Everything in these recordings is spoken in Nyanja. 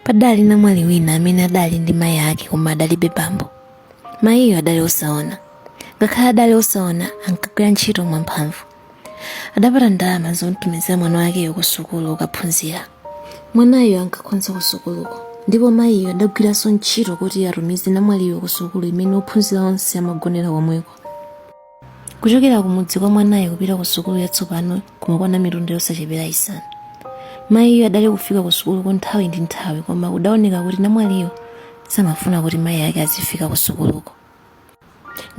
padali namwali wina amene adali ndi mayi ake koma adalibe bambo mayiyo adali osaona ngakhale adali osaona ankagwira ntchito mwamphamvu adapata ndalama zomtumizira mwana wakeyo ku sukulu kukaphunzira mwanayo ankakhonza ku sukuluko ndipo mayiyo adagwiranso ntchito kuti atumize namwaliyo ku sukulu imene ophunzira onse amagonera komweko kuchokera kumudzi kwa mwanayo kupita ku sukulu yatsopano kumakwana mitunda yosachepera isanu mayiyo adali kufika ku sukuluko nthawi ndi nthawi koma kudaoneka kuti namwaliyo samafuna kuti mayi ake azifika ku sukuluko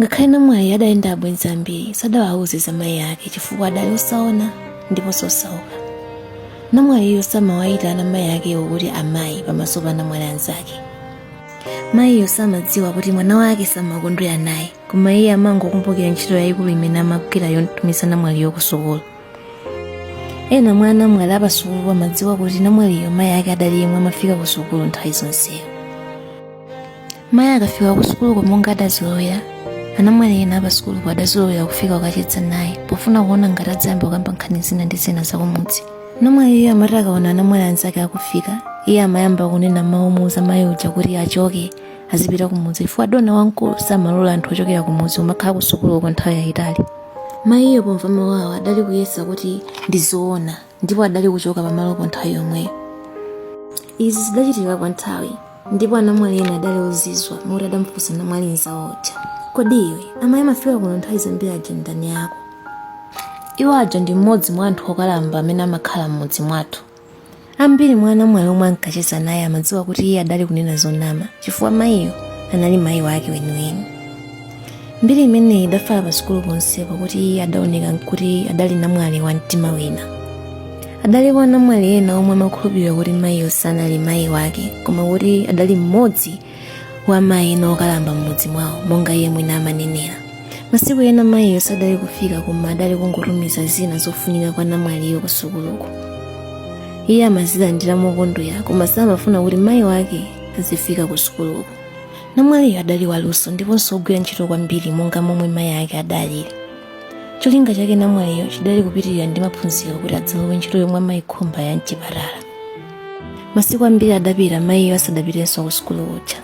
ngakhale namwali adali ndi abwenzi ambiri sadawauze za mayi ake chifukwa adali osaona ndiponso osauka namwaliyo samawayitana mayi akewo kuti amayi pamaso pa namwali anzake mayiyo samadziwa kuti mwana wake samakondwera naye koma iye amangokumbukira ntchito yayikulu imene amagwira yomtumiza namwaliyo ku sukulu ena mwa anamwali apasukulu amadziwa kuti namwaliyo mayi ake adali yemwe amafika ku sukulu nthawi zonseyo mayi akafika ku sukuluko monga adazolowera anamwali ena apasukuluko adazolowera kufika kukacheza naye pofuna kuona ngati adzayamba kukamba nkhani zina ndi zina zakumudzi namwaliyo amati akaona anamwali anzake akufika iye amayamba kunena mawu omuuza mayi uja kuti achoke azipita kumudzi chifukwa dona wamkulu samalola anthu ochokera kumudzi kumakhala kusukulu kwa nthawi yayitali mayiyo pomva mawu awo adali kuyesa kuti ndi zoona ndipo adali kuchoka pamalopo nthawi yomweyo izi zidachitika kwa nthawi ndipo anamwali ena adali ozizwa moti adamufunsa namwali mzawo uja kodi iwe amayi amafika kuno nthawi zambiri aja ndani yako iwo aja ndi mmodzi mwa anthu okalamba amene amakhala m'mudzi mwathu ambiri mwa anamwali omwe ankacheza naye amadziwa kuti iye adali kunena zonama chifukwa mayiyo anali mayi wake weniweni mbiri imeneyi idafala pa sukulu ponsepo kuti iye adaoneka kuti adali namwali wa mtima wina adalipo anamwali ena omwe amakhulupirira kuti mayiyo sanali mayi wake koma kuti adali mmodzi wa mayi ena okalamba m'mudzi mwawo monga iye mwini amanenera masiku ena mayiyo sadali kufika koma adali kungotumiza zina zofunika kwa namwaliyo kusukuluko iye amazilandira mokondwera koma samafuna kuti mayi wake azifika kusukuluko namwaliyo adali waluso ndiponso ogwira ntchito kwambiri monga momwe mayi ake adaliri cholinga chake namwaliyo chidali kupitirira ndi maphunziro kuti adzalowe ntchito yomwe amayikhumba ya mchipatala masiku ambiri adapita mayiyo asadapitenso ku sukulu uja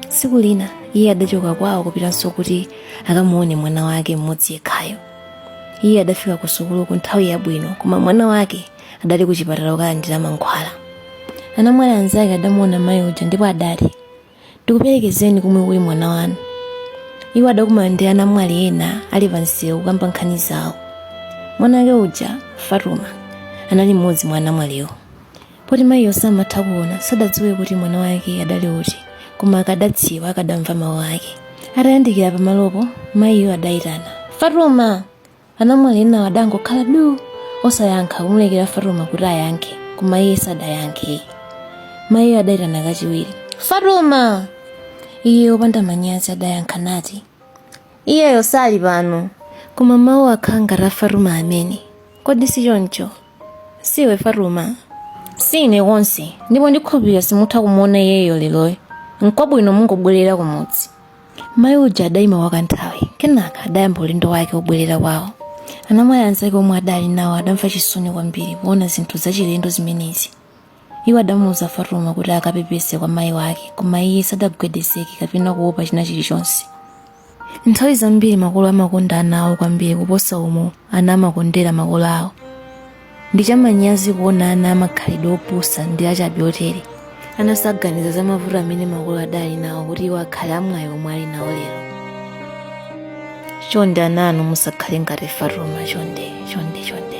tsiku lina iye adachoka kwawo kupitanso kuti akamuone mwana wake mmodzi yekhayo iye adafika ku sukuluko nthawi yabwino koma mwana wake adali ku chipatala kukalandira mankhwala anamwali anzake adamuona mayi uja ndipo adati ndikuperekezeni komwe kuli mwana wanu iwo adakumana ndi anamwali ena ali pansewu kukamba nkhani zawo mwana wake uja fatuma anali mmodzi mwa anamwaliwo poti mayiyo samatha kuona sadadziwe kuti mwana wake adali uti koma akadadziwa akadamva mawu ake atayandikira pamalopo mayiyo adayitana fatuma anamwali enawo adangokhala du osayankha kumulekera fatuma kuti ayankhe koma iye sadayankhe mayiyo adayitana kachiwiri fatuma iye opanda manyazi adayankha nati iyeyo sali pano koma mawu akhala ngati a fatuma amene kodi si choncho siwe fatuma sine konse ndipo ndikhulupirira simutha kumuona iyeyo leroyo nkwabwino mungobwerera kumudzi mayi uja adayima kwa kanthawi kenaka adayamba ulendo wake wobwerera kwawo anamwali anzake omwe adali nawo adamva chisoni kwambiri kuona zinthu zachilendo zimenezi iwo adamuuza fatuma kuti akapepese kwa mayi wake koma iye sadagwedezeke kapena kuopa china chilichonse nthawi zambiri makolo amakonda ana awo kwambiri kuposa umo ana amakondera makolo awo ndi chamanyazi kuona ana amakhalidwe opusa ndi achabe otere ana saganiza za mavuto amene makolo adali nawo kuti iwo akhale amwayi omwe ali nawo lero chonde ana inu musakhale ngati fatuma chonde chonde chonde